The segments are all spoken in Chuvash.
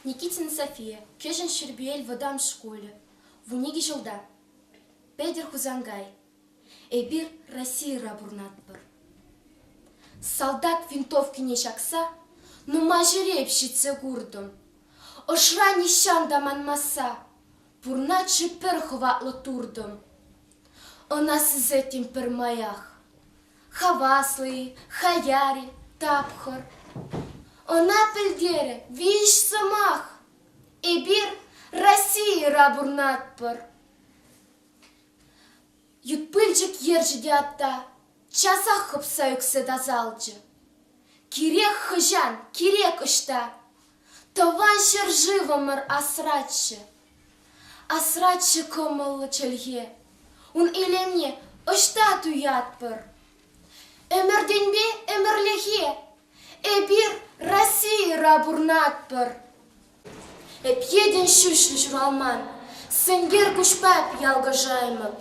Никитина София, Кӗҫӗн Ҫӗрпел вӑтам шкулӗ, вун икӗ ҫулта. Петӗр Хусанкай, эпир Российӑра пурӑнатпӑр. Салтак винтовкине ҫакса нумай ҫӗре ҫитсе куртӑм. Ӑшра нихҫан та манмасса пурнатҫӑ пӗр хӑватлӑ туртӑм. Ӑна сисеттӗм пӗрмаях. Хаваслӑ-и, хаяр-и, тапхӑр. Ӑна пӗлтерӗ виҫ сӑмах. Эпир Российӑра пурӑнатпӑр. Ют пылчӑк ерчӗ те атта часах хӑпса ӳксе тасалчӗ. Кирек хӑҫан, кирек ӑҫта Тӑван ҫӗршывӑмӑр асраччӗ. Асраччӗ кӑмӑллӑ чӗлхе, ун илемне ӑҫта туятпӑр? Ӗмӗртенпе ӗмӗрлӗхе эпир Российӑра пурнатпӑр. Эп йӗтӗн ҫӳҫлӗ ҫуралман, сенкер куҫпа ялкӑшаймӑп.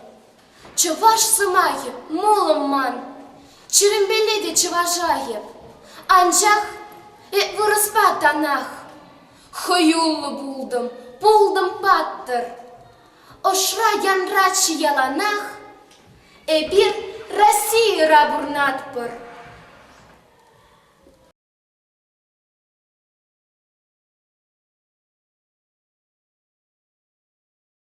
Чӑваш сӑмахӗ мулӑм ман, чӗрӗмпеле те чӑваша эп. Анчах эп вырӑспа танах, хӑюллӑ пултӑм, пултӑм паттӑр. Ӑшра-янраччӗ яланах, эпир Российӑра пурнатпӑр.